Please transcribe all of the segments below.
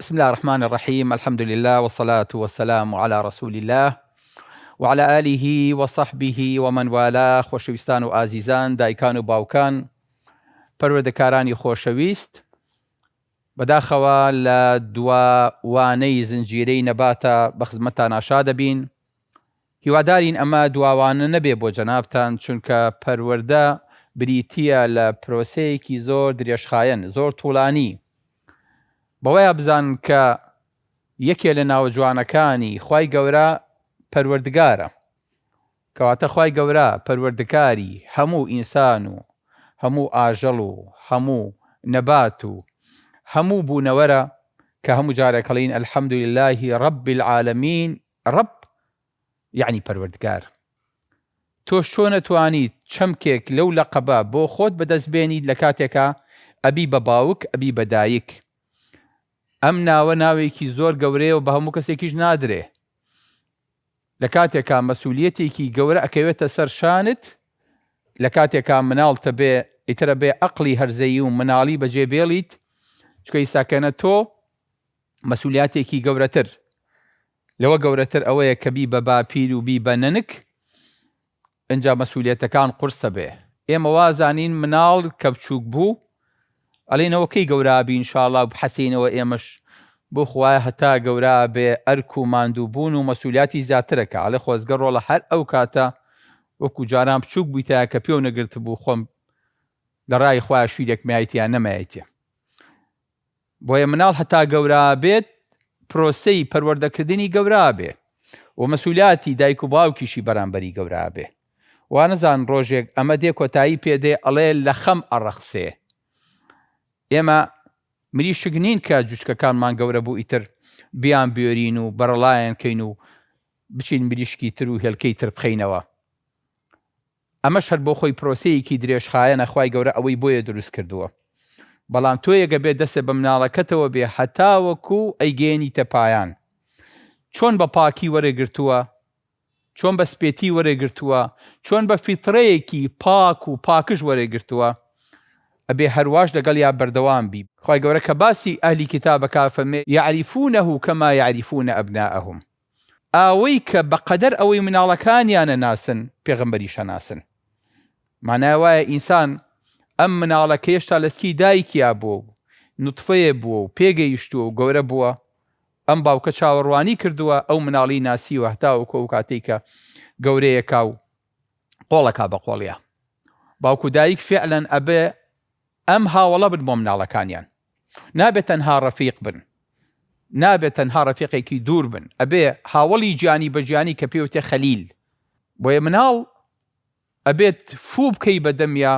بسم اللە الرحمن الرحیم الحمد للە والصلاة والسلام علی رسول اللە وعلی آله وصحبه ومن والاه خۆشەویستان و ئازیزان دایکان و باوکان پەروەردەکارانی خۆشەویست بەداخەوە لە دوا وانەی زنجیرەی نەباتە بە خزمەتتان ئاشا دەبین هیوادارین ئەمە دواوانە نەبێ بۆ جەنابتان چونکە پەروەردە بریتییە لە پرۆسەیەکی زۆر درێژخایەن زۆر طولانی بەوەیا بزان کە یەکێ لە ناوە جوانەکانی خوای گەورە پەروەردگارە کەواتە خوای گەورە پەروەردکاری هەموو ئینسان و هەموو ئاژەڵ و هەموو نەبات و هەموو بوونەوەرە کە هەموو جارێکەڵێین الحمدللە رب العالمین رب یەعنی پەروەردگار تۆش چۆن ئەتوانیت چەمکێک لەو لەقەبە بۆ خۆت بەدەست بێنیت لە کاتێکا ئەبی بە باوک ئەبی بە دایک ئەم ناوە ناوێکی زۆر گەورەیە و بە هەموو کەسێکیش نادرێ لە کاتێکا مەسولیەتێکی گەورە ئەکەوێتە سەر شانت لە کاتێکا مناڵ تەبێ ئیتر ئەبێ ئەقڵی هەرزەیی و مناڵی بەجێ بێڵیت چکە ئیساکەنە تۆ مەسولیاتێکی گەورەتر لەوە گەورەتر ئەوەیە کە بی بە باپیر و بی بە نەنک ئنجا مەسولیەتەکان قورسە بێ ئێمە وازانین مناڵ کە بچوک بو ئەلین ئەوە کەی گەورا ئەبی انشااللە و بحەسینەوە ئێمەش بو خوایە هەتا گەورا ئەبێ ئەرک و ماندو بون و مەسولیاتی زیاترە کە ئەلێ خۆزگە رۆڵە هەر ئەو کاتە وەکو جاران بچوک بویتایە کە پێو نەگرتبو خۆم لە رای خوایە شیرێکم یایتیە نەمایتیە بۆیە مناڵ هەتا گەورابێت پرۆسەی پەروەردەکردنی گەورابێ و مەسولاتی دایک و باوکیشی بەرامبەری گەورابێ وانەزان ڕۆژێک ئەمە دێ کۆتایی پێدێ ئەڵێ لەخەم ئەڕەخسێ ئێمە مریشک نین کە جوچکەکانمان گەورەبوو ئیتر بیان بێرین و بەرەڵایان کەین و بچین مریشکی تر و هێلکەی تر بخەینەوە ئەمەش هەر بۆخۆی پرۆسەیەکی درێژخایەنە خوای گەورە ئەوەی بۆیە دروست کردووە بەڵام تۆیەک ئەبێت دەستت بە مناڵەکەتەوە بێ هەتاوەکو ئەیگەیەنیتە پایان چۆن بە پاکی وەرێ گرتووە چۆن بە سپێتی وەرێ گرتووە چۆن بە فیتڕەیەکی پاک و پاکژ وەرێ گرتووە ئەبێ هەرواش لەگەڵیا بەردەوام بی خوای گەورە کە باسی ئەهلی کیتاب ئەکا فەرمێ یعرفونە کما یعرفون ابناءهم ئاوەی کە بە قەدەر ئەوەی مناڵەکانیان ئەناسن پێغەمبەریش ئەناسن مانای وایە ئینسان ئەم مناڵە کە هێشتا لە سکی دایکیا بووە و نوتفەیە بووە و پێگەیشتووە و گەورە بووە ئەم باوکە چاوەڕوانی کردووە ئەو مناڵی ناسیوە هەتاوەکو ئەو کاتەی کە گەورەیەکا و قۆڵەکا بە قۆڵیا باوک و دایک فعلەن ئەبێ ئەم هاوەڵە بن بۆ مناڵەکانیان نابێ تەنها ڕەفیق بن نابێ تەنها ڕەفیقێکی دوور بن ئەبێ هاوەڵی گیانی بە گیانی کە پێی وتێ خەلیل بۆیە مناڵ ئەبێت فوو بکەی بە دەمیا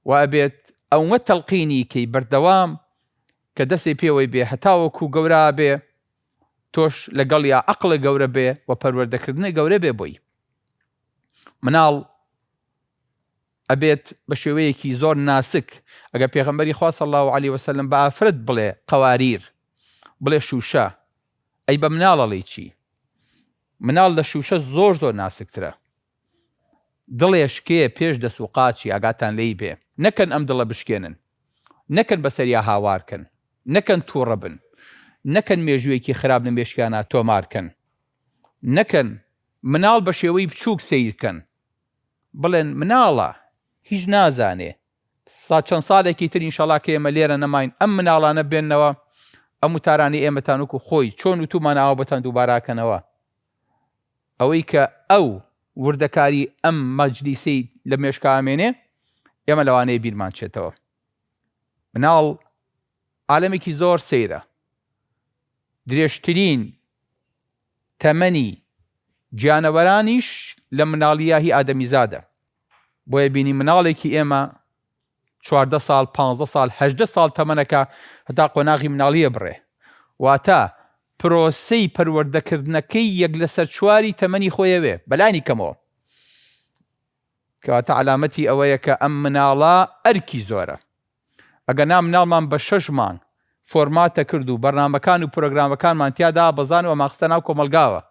و ئەبێت ئەوە تەلقینی کەی بەردەوام کە دەسێ پێوەی بێ هەتاوەکو گەورا بێ تۆش لەگەڵ یا عقلە گەورە بێ و پەروەردەکردنە گەورە بێ بۆی مناڵ ئەبێت بە شێوەیەکی زۆر ناسک ئەگەر پێغەمبەری خوا صلی اللە علیە وسلم بە ئافرەت بڵێ قەواریر بڵێ شوشە ئەی بە مناڵ ئەڵێی چی مناڵ لە شوشە زۆر زۆر ناسکترە دڵێشکێ پێش دەس و قاچی ئاگاتان لێی بێ نەکەن ئەم دڵە بشکێنن نەکەن بەسەریا هاوارکەن نەکەن توڕە بن نەکەن مێژوویەکی خراپ لە مێشکیانا تۆمارکەن نەکەن مناڵ بە شێوەی بچووک سەیرکەن بڵێن مناڵە هیچ نازانێ سا چەند سالێکی تر ئینشەڵا کە ئێمە لێرە نەماین ئەم مناڵانە بێننەوە ئەم وتارانی ئێمەتان وەکو خۆی چۆن وتومان ئاوا بۆتان دووباراکەنەوە ئەوەی کە ئەو وردەکاری ئەم مەجلیسی لە مێشکا ئەمێنێ ئێمە لەوانەیە بیرمان چێتەوە مناڵ عالەمێکی زۆر سەیرە درێژترین تەمەنی گیانەوەرانیش لە مناڵییاهی ئادەمیزادە، بۆیە بینی مناڵێکی ئێمە چواردە ساڵ، پانزدە ساڵ، هەژدە ساڵ تەمەنەکە هەتا قۆناغی مناڵی ئەبڕێ، واتە پرۆسەی پەروەردەکردنەکەی یەک لەسەر چواری تەمەنی خۆیەوێ بەلانی کەمەوە، کەواتە عەلامەتی ئەوەیە کە ئەم مناڵە ئەرکی زۆرە. ئەگەنا مناڵمان بە شەش مانگ فۆرماتە کرد و بەرنامەکان و پرۆگرامەکانمان تیا دابەزان و ئەمان خستە ناو کۆمەڵگاوە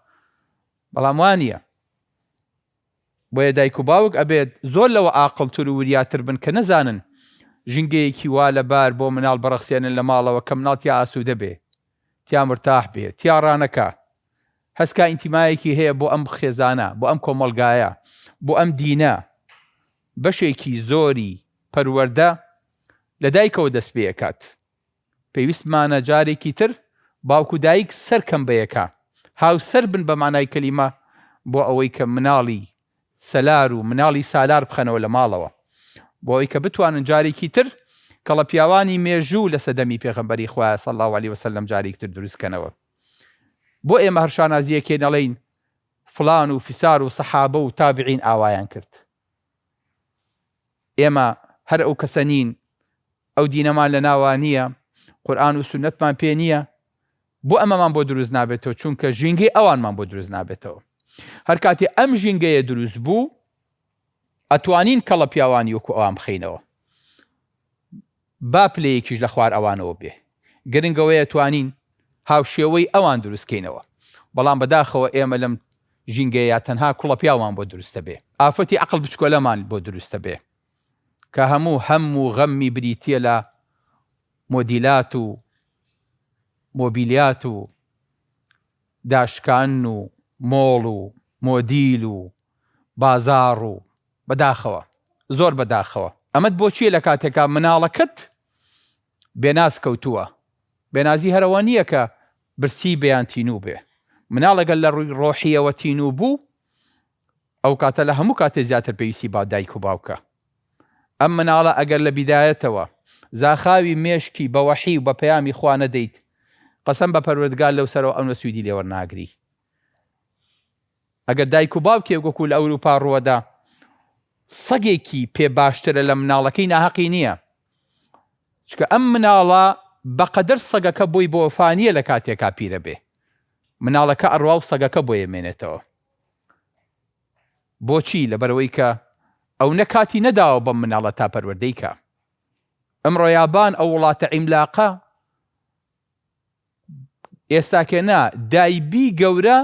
بەڵام وا نیە بۆیە دایک و باوک ئەبێت زۆر لەوە ئاقڵتر و وریاتر بن کە نەزانن ژینگەیەکی وا لە بار بۆ مناڵ بڕەخسێنن لە ماڵەوە کە مناڵ تیا ئاسوودە بێ تیا مرتاح بێ تیا ڕانەکا هەست کا ئینتیمایەکی هەیە بۆ ئەم خێزانە بۆ ئەم کۆمەڵگایە بۆ ئەم دینە بەشێکی زۆری پەروەردە لە دایکەوە دەست پێئەکات، پێویستمانە جارێکی تر باوک و دایک سەرکەم بەیەکا هاوسەر بن بە مانای کەلیمە بۆ ئەوەی کە مناڵی سەلار و مناڵی سالار بخەنەوە لە ماڵەوە بۆ ئەوەی کە بتوانن جارێکی تر کەڵە پیاوانی مێژوو لە سەدەمی پێغەمبەری خوا صلی اللە علیە وسلم جارێکی تر دروست کەنەوە بۆ ئێمە هەر شانازیەکێ نەڵێین فلان و فیسار و سەحابە و تابعین ئاوایان کرد. ئێمە هەر ئەو کەسە نین، ئەو دینەمان لە ناوا نییە، قورئان و سوننەتمان پێ نییە، بۆ ئەمەمان بۆ دروست نابێتەوە، چونکە ژینگەی ئەوانمان بۆ دروست نابێتەوە. هەر کاتێ ئەم ژینگەیە دروست بوو، ئەتوانین کەڵە پیاوانی وەکو ئەوان بخەینەوە. با پلەیەکیش لە خوار ئەوانەوە بێ گرنگەوەیە توانین هاوشێوەی ئەوان دروست کەینەوە بەڵام بەداخەوە ئێمە لەم ژینگەیە تەنها کوڵە پیاومان بۆ دروستە بێ ئافرەتی عەقڵ بچکۆلەمان بۆ دروستە بێ کە هەموو هەم و غەممی بریتیە لە مۆدیلات و مۆبیلیات و داشکاندن و مۆڵ و مۆدیل و بازاڕ و بەداخەوە زۆر بەداخەوە. ئەمەت بۆ چیە لەکاتێکا مناڵەکەت بێناز کەوتووە بێنازی هەرەوە نیە کە برسی بێ یان تینوو بێ مناڵێک گەر لەڕووی ڕۆحیەوە تینوو بوو ئەوکاتە لە هەموو کاتێ زیاتر پێویستی با دایک و باوکە ئەم مناڵە ئەگەر لە بیدایەتەوە زاخاوی مێشکی بە وەحی و بە پەیامی خوا نەدەیت قەسەم بە پەروەردگار لەو سەرەوە ئەونە سویدی لێوەرناگری ئەگەر دایک و باوکێک وەکو لە ئەوروپا ڕووەدا سەگێکی پێ باشترە لە مناڵەکەی ناهەقی نییە چکە ئەم مناڵە بەقەدەر سەگەکە بۆی بۆ فانیە لە کاتێکا پیرە بێ مناڵەکە ئەڕوا و سەگەکە بۆیە مێنێتەوە بۆچی لەبەرەوەی کە ئەو نە کاتی نەداوە بەم مناڵە تا پەروەردەیکە ئەمڕۆ یابان ئەو وڵاتە عیملاقە ئێستاکێ نا دایبی گەورە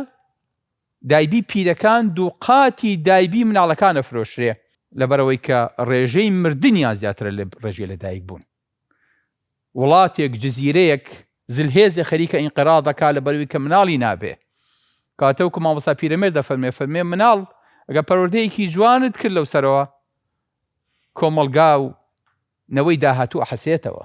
دایبی پیرەکان دووقاتی دایبی مناڵەکان ئەفرۆشرێ لەبەرەوەی کە ڕێژەی مردنیان زیاترە لە ڕێژەی لە دایک بوون وڵاتێک جزیرەیەک زلهێزێ خەریکە ئینقرا دەکا لە بەروی کە مناڵی نابێ کاتەوکو مامۆسا پیرەمێر دەفەرمێ فەرمێ مناڵ ئەگە پەروەردەیەکی جوانت کرد لەو سەرەوە کۆمەڵگا و نەوەی داهاتوو حەسێتەوە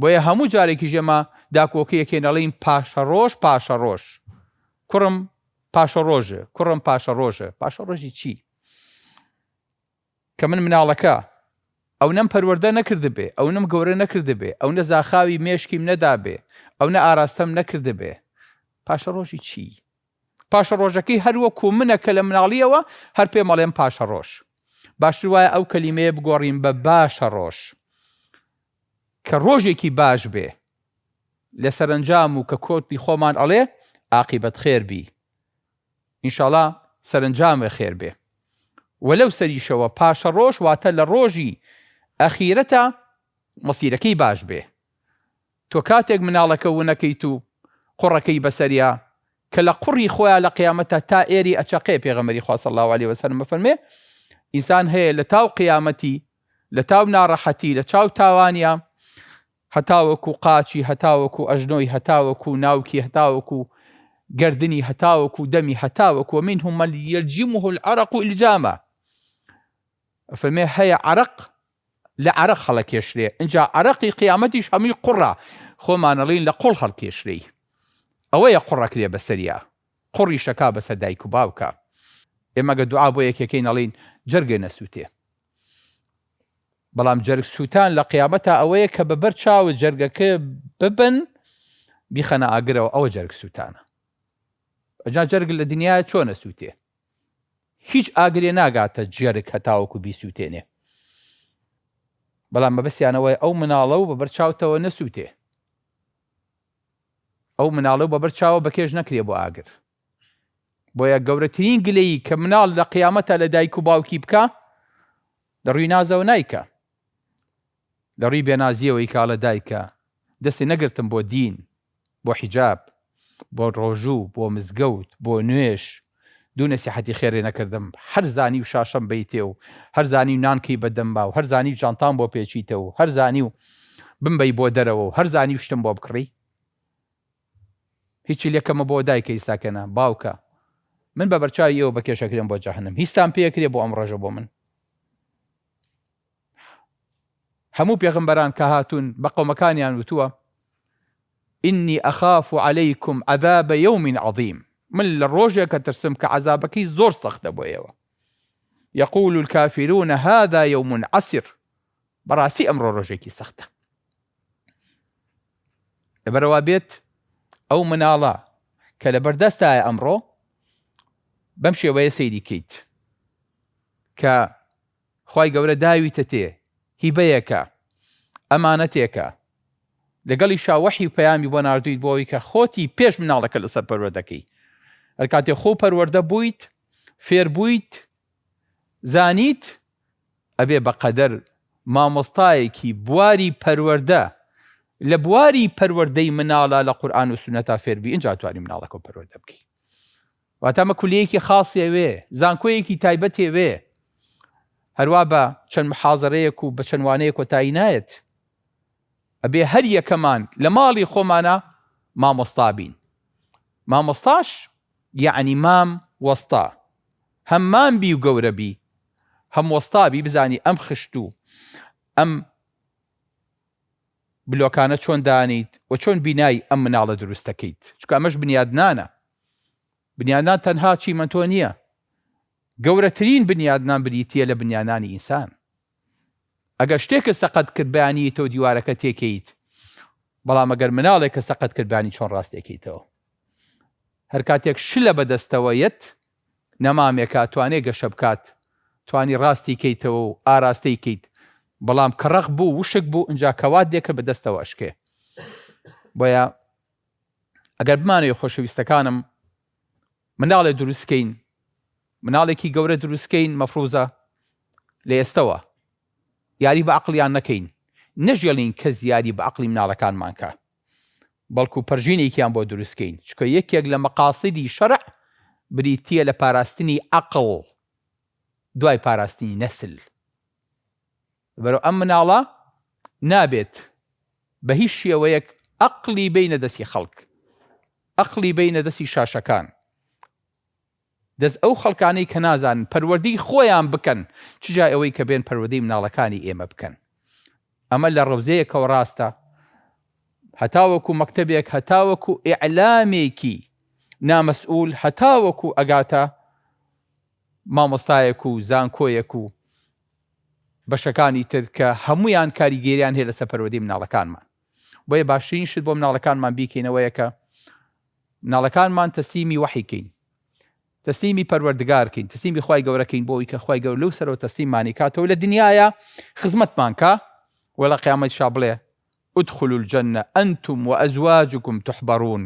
بۆیە هەموو جارێکیش ئێمە داکۆکیەکێن ئەڵێین پاشەڕۆژ پاشەڕۆژ کوڕم پاشەڕۆژ کوڕم پاشەڕۆژ پاشەڕۆژی چی کە من مناڵەکە ئەو نەم پەروەەردە نەکردبێ ئەو نم گەورە نەکردبێ ئەو نە زاخاوی مێشکیم نەدابێ ئەو نە ئاراستەم نەکردبێ پاشەڕۆژی چی پاشەڕۆژەکەی هەروەکو منە کە لە مناڵیەوە هەر پێ مەڵێن پاشەڕۆژ باشتر وایە ئەو کەلیمەیە بگۆڕین بە باشە ڕۆژ کە ڕۆژێکی باش بێ لە سەرەنجام و کە کۆتی خۆمان ئەڵێ ئاقیبەت خێر بی ئینشاڵا سەرەنجامێ خێر بێ وە لەو سەریشەوە پاشەڕۆژ واتە لە ڕۆژی ئەخیرەتا مەسیرەکەی باش بێ تۆ کاتێک مناڵەکە ونەکەیت و قوڕەکەی بەسەریا کە لە قوڕی خۆیا لە قیامەتا تا ئێری ئەچەقێ پێغەمبەری خوا صلی اللە علیە وسلم ئەفەرمێ ئینسان هەیە لە تاو قیامەتی لە تاو ناڕەحەتی، لە چاو تاوانیا، هەتاوەکو قاچی، هەتاوەکو ئەژنۆی، هەتاوەکو ناوکی، هەتاوەکو گەردنی، هەتاوەکو دەمی، هەتاوەکو، ومنهم من یلجمه العرق الجاما، ئەفەرمێ هەیە عەرەق لە عەرەق هەڵەکێشرێ، ئنجا عەرەقی قیامەتیش هەمووی قوڕە، خۆمانەڵێین لە قوڵ هەڵکێشرێی، ئەوەیە قوڕەکرێ بەسەریا. قوڕی شەکا بەسەر دایک و باوکا ئێمە گە دوعا بۆ یەکێکەین ئەڵێین جەرگێ نەسووتێ بەڵام جەرگ سووتان لە قیامەتا ئەوەیە کە بە بەر چاوە جەرگەکە ببن بیخەنە ئاگرەوە ئەوە جەرگ سووتانە ئەجا جەرگ لە دنیا چۆنە سووتێ هیچ ئاگرێ ناگاتە جێرگ هەتاوەکو بیسووتێنێ بەڵام مەبەستیانەوەی ئەو مناڵە و بە بەرچاوتەوە نەسووتێ ئەو مناڵە و بەبەر چاوە بەکێش نەکرێ بۆ ئاگر بۆیە گەورەترین گلەیی کە مناڵ لە قیامەتا لە دایک و باوکی بکا لە ڕوی نازەوە نایکا لە ڕوی بێنازیەوە یکا ئەڵێ دایکە دەستی نەگرتم بۆ دین بۆ حیجاب بۆ ڕۆژوو بۆ مزگەوت بۆ نوێژ دوو نەسیحەتی خێرێ نەکردم هەر زانیو شاشەم بەیتێ و هەر زانیو نانکەی بە دەمما و هەر زانیو جانتام بۆ پێچیتە و هەر زانیو بمبەی بۆ دەرەوە و هەر زانیو شتم بۆ بکڕی هیچی لێ کەمە بۆ دایکە ئیستاکە نا باوکە من بە بەرچاوی ئێوە بەکێشەکرێم بۆ جەهەنم هیستان پێ ئەکرێ بۆ ئەم ڕۆژە بۆ من. هەموو پێغەمبەران کە هاتوون بە قەومەکانیان وتووە، ئینی ئەخاف عەلەیکم عەذاب یەوم عەظیم، من لە ڕۆژێک ئەترسم کە عەزابەکەی زۆر سەختە بۆ ئێوە، یقول الکافرون هذا یوم عسر، بەڕاستی ئەمڕۆ ڕۆژێکی سەختە. لەبەرەوا بێت ئەو مناڵە کە لەبەردەستایە ئەمڕۆ بەم شێوەیە سەیری کەیت کە خوای گەورە داویتە تێ، هیبەیەکە، ئەمانەتێکە، لەگەڵیشا وەحی و پەیامی بۆ ناردوویت بۆ ئەوەی کە خۆتی پێش مناڵەکە لەسەر پەروەردەکەی هەر کاتێ خۆو پەروەردە بوویت فێر بوویت زانیت ئەبێ بە قەدەر مامۆستایەکی بواری پەروەردە لە بواری پەروەردەی مناڵە لە قورئان و سوننەتا فێر بی ئینجا توانی مناڵەکەو پەروەردە بکەی واتە ئەمە کولیەیەکی خاصی ئەوێ، زانکۆیەکی تایبەتی ئەوێ، هەروا بە چەند محازەرەیەک و بە چەند وانەیەک کۆتایی نایەت، ئەبێ هەر یەکەمان لە ماڵی خۆمانا مامۆستا بین، مامۆستاش یەعنی مام وەستا، هەم مام بی و گەورە بی، هەم وەستا بی، بزانی ئەم خشت و ئەم. بلۆکانە چۆن دانیت و چۆن بینای ئەم مناڵە دروست دەکەیت چونکە ئەمەش بنیادنانە بنیادنان تەنها چیمەنتۆ نیە گەورەترین بنیادنان بریتیە لە بنیانانی ئینسان ئەگەر شتێکت سەقەت کرد بەیانیتەوە دیوارەکە تێکەیت بەڵام ئەگەر مناڵێکە سەقەت کرد بانی چۆن ڕاستێکیتەوە هەرکاتێک شلە بەدەستەوە یەت نەمامێکا توانێ گەشە بکات توانی ڕاستی کەیتەوە و ئاراستەی کەیت بەڵام کە ڕەق بوو وشک بوو ئنجا کەوات لێ کرد بە دەستەوە ئەشکێ بۆیە ئەگەر بمانەوێ خۆشەویستەکانم مناڵێ دروست کەین مناڵێکی گەورە دروست کەین مەفروزە لە ئێستەوە یاری بە عقلیان نەکەین نەژێڵین کەس یاری بە عقلی مناڵەکانمان کە بەڵکو پەرژینێکیان بۆ دروستکەین، چونکە یەکێک لە مەقاسیدی شەرع بریتییە لە پاراستنی عەقڵ دوای پاراستنی نەسل، لەبەرئەوە ئەم مناڵە نابێت بەهیچ شێوەیەک عەقڵی بەینە دەستی خەڵک، عەقڵی بەینە دەستی شاشەکان، دەست ئەو خەڵکانەی کە نازانن پەروەردەی خۆیان بکەن چ جای ئەوەی کە بێن پەروەدەی مناڵەکانی ئێمە بکەن ئەمە لە ڕەوزەیەکەوە ڕاستە هەتاوەکو مەکتەبێک هەتاوەکو ئیعلامێکی نامەسئول هەتاوەکو ئەگاتە مامۆستایەک و زانکۆیەک و بەشەکانی تر کە هەموویان کاریگەریان هەیە لەسەر پەروەدەی مناڵەکانمان. بۆیە باشترین شت بۆ مناڵەکانمان بیکەین ئەوەیە کە مناڵەکانمان تەسلیمی وەحی کەین تەسلیمی پەروەردگارکەین تەسلیمی خی گەورەکەین بۆی کە خی گەور لەو سەرەوە تەسلیمانی کاتەوە لە دنیاە خزمەتمان کە وە لە قیامەت شا بڵێ ادخل الجنە ئەنتم و ئەزواجکم تحبڕون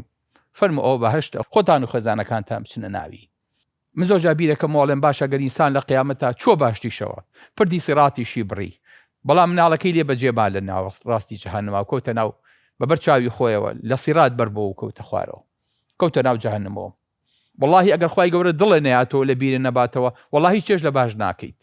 فەرمو ئەوە بەهشتە خۆتان و خێزانەکانتان بچنە ناوی من زۆر جار بیرەکەم وەڵێم باشە گەر ئینسان لە قیامەتا چووە باشتیشەوە پردی سیڕاتیشی بڕی بەڵام مناڵەکەی لێ بەجێ ما لە ناو ڕاستی جەهەنەما کەوتە ناو بە بەر چاوی خۆیەوە لە سیڕات بەر بۆوە کەوتە خوارەوە کەوتە ناو جەهەنەمەوە وەڵاهی ئەگەر خوای گەورە دڵێ نەیاتەوە لە بیرێ نەباتەوە وەڵاهی چێژ لە باش ناکەیت.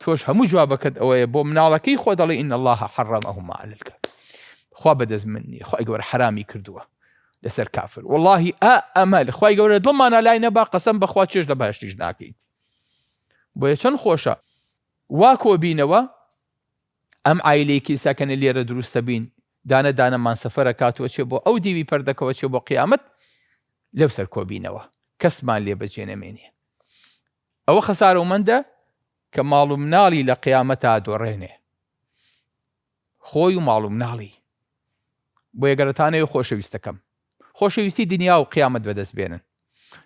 تۆش هەموو جوابەکەت ئەوەیە بۆ مناڵەکەی خۆ دەڵێ ان الله حرمهما على الكافر خوا بەدەست من نیە خی گەورە حرامی کردووە لەسەر کافر واللهی ئا ئەمە خی گەورە دڵمانە لای نەبا قەسم بەخوا چێش لە باشتیش ناکەین بۆیە چەند خۆشە وا کۆبینەوە ئەم ئایلەی کیساکەنە لێرە دروستە بین دانە دانەمان سەفرە کاتوە چێ بۆ ئەو دیوی پەردەکەوە چێ بۆ قیامەت لەو سەر کۆبینەوە کەسمان لێ بەجێ نەمێنێ ئەوە خەسارەومەندە کە ماڵ و مناڵی لە قیامەتا دۆڕێنێ خۆی و ماڵ و مناڵی بۆیە گەرەتانەوە خۆشەویستەکەم خۆشەویستی دنیا و قیامەت بەدەست بێنن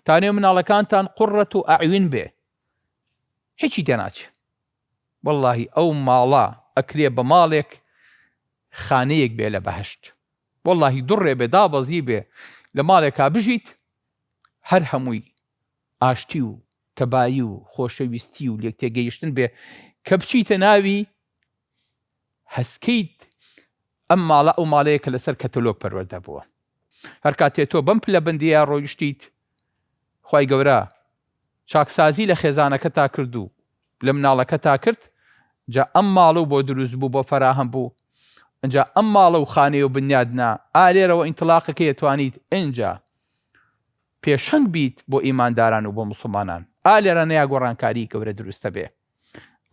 تانێ مناڵەکانتان قڕەت و ئەعوین بێ هیچی تێناچ واللهی ئەو ماڵە ئەکرێ بە ماڵێک خانەیەک بێ لە بەهشت واللهی دوڕێ بێ دابەزی بێ لە ماڵێکا بژیت هەر هەمووی ئاشتی و تەبایی و خۆشەویستی و لێکتێگەیشتن بێ کە بچیتە ناوی هەسکیت ئەم ماڵە ئەو ماڵەیە کە لەسەر کەتەلۆگ پەروەردە بووە هەر کاتێ تۆ بەم پلەبندیە ڕۆیشتیت خوای گەورە چاکسازی لە خێزانەکەتا کرد و لە مناڵەکەتا کرد جا ئەم ماڵە و بۆ دروست بوو بۆ فەراهەم بوو ئەجا ئەم ماڵە و خانەیە و بنیادنا ئالێرەوە ئینتلاقەکەی توانیت ئەجا پێشەنگ بیت بۆ ئیمانداران و بۆ موسڵمانان ئا لێرانەیا گۆڕانکاری گەورە دروست دەبێ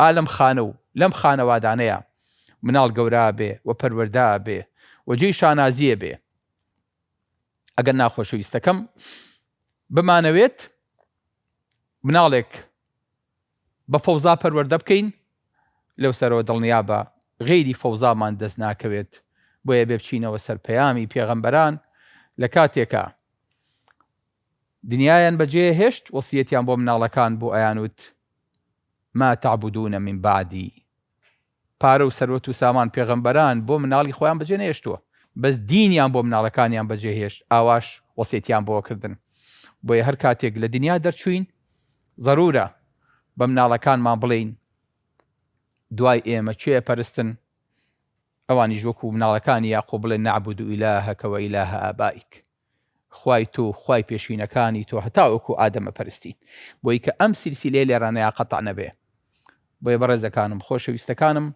ئا لەم خانە و لەم خانەوادانەیا مناڵ گەورا ئەبێ و پەروەردە ئەبێ و جێی شانازی ئەبێ ئەگەر نا خۆشەویستەکەم بمانەوێت مناڵێک بە فەوزا پەروەردە بکەین لەو سەرەوە دڵنیابە غەیری فەوزامان دەست ناکەوێت بۆیە بێ بچینەوە سەر پەیامی پێغەمبەران لە کاتێکا دنیایان بە جێ هێشت وەسیەتیان بۆ مناڵەکان بوو ئەیان وت ما تعبدون من بعدی پارە و سەروەت و سامان پێغەمبەران بۆ مناڵی خۆیان بەجێ نەهێشتووە بەس دینیان بۆ مناڵەکانیان بەجێ هێشت ئاواش وەسێتیان بۆ کردن بۆیە هەر کاتێک لە دنیا دەرچووین زەرورە بە مناڵەکانمان بڵێین دوای ئێمە کێ ئەپەرستن ئەوانیش وەکو مناڵەکانی یاقوب بڵێن نعبد الهک و اله آبائک. خوای تۆ خوای پێشینەکانی تۆ هەتاوەکو ئادەمە پەرستین بۆی کە ئەم سیلسیلەیە لێرانەیا قەتع نەبێ بۆیە بەڕێزەکانم خۆشەویستەکانم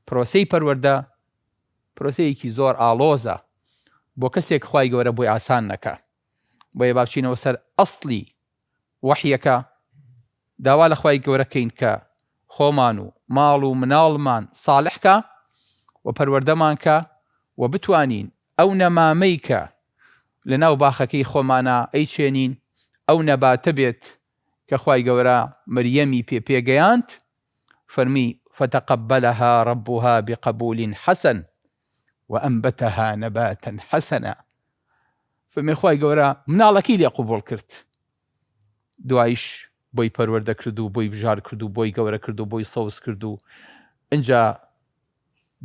پرۆسەی پەروەردە پرۆسەیەکی زۆر ئاڵۆزە بۆ کەسێک خوای گەورە بۆی ئاسان نەکا بۆیە با بچینەوە سەر ئەسڵی وەحیەکە داوا لە خوای گەورە کەین کە خۆمان و ماڵ و مناڵمان ساڵح کا و پەروەردەمان کا و بتوانین ئەو نەمامەی کە لە ناو باخەکەی خۆمانا ئەیچێنین ئەو نەباتە بێت کە خوای گەورە مریەمی پێ پێگەیاند فەرمی فتقبلها ربها بقبول حسن وانبتها نباتا حسنا فەرمووی خوای گەورە مناڵەکەی لێ قبوڵ کرد دوایش بۆی پەروەردە کرد و بۆی بژار کرد و بۆی گەورە کرد و بۆی سەوز کرد و ئینجا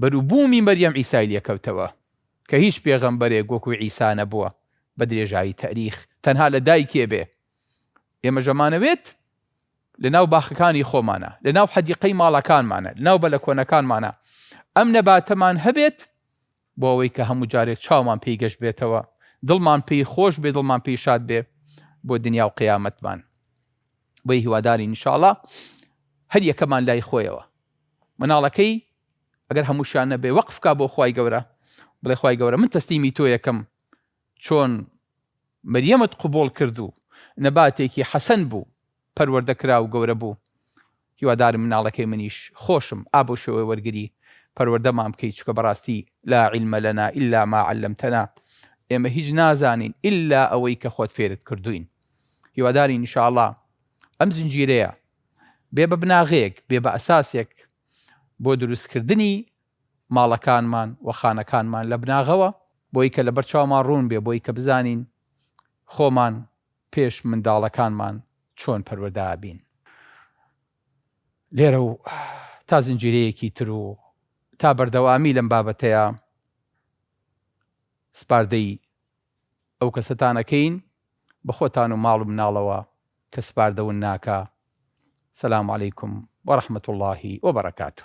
بەروبوومی مەریەم ئیسای لێکەوتەوە کە هیچ پێغەمبەرێک وەکو ئیسا نەبووە بە درێژایی تاریخ تەنها لە دایکێ بێ ئێمە ژەمانەوێت لە ناو باخەکانی خۆمانە، لە ناو حەدیقەی ماڵەکانمانە، لە ناو بەلە کۆنەکانمانە ئەم نەباتەمان هەبێت، بۆ ئەوەی کە هەموو جارێک چاومان پێی گەش بێتەوە، دڵمان پێی خۆش بێ، دڵمان پێی شاد بێ بۆ دنیا و قیامەتمان. بۆیە هیوادارین ان شاءاللە هەر یەکەمان لای خۆیەوە مناڵەکەی ئەگەر هەمووشیان نەبێ وەقف کا بۆ خوای گەورە، بڵێ خوای گەورە من تەسلیمی تۆیەکەم چۆن مریەمت قبوڵ کرد و نەباتێکی حەسەن بوو پەروەردە کرا و گەورە بوو هیوادارم مناڵەکەی منیش خۆشم ئا بەو شێوەیە وەرگری پەروەردەمان بکەی چونکە بەڕاستی لا علم لنا الا ما علمتنا ئێمە هیچ نازانین الا ئەوەی کە خۆت فێرت کردووین هیوادارین ان شاءاللە ئەم زنجیرەیە بێ بە بناغەیەک بێ بە ئەساسێک بۆ دروست کردنی ماڵەکانمان و خانەکانمان لە بناغەوە، بۆی کە لەبەر چاومان ڕوون بێ، بۆی کە بزانین خۆمان پێش منداڵەکانمان چۆن پەروەردە ئەبین. لێرە و تا زنجیرەیەکی تر و تا بەردەوامی لەم بابەتەیا سپاردەی ئەو کەسەتان ئەکەین بە خۆتان و ماڵ و مناڵەوە کە سپاردە ون ناکا. سلام علیکم و رحمت اللە و برکاته.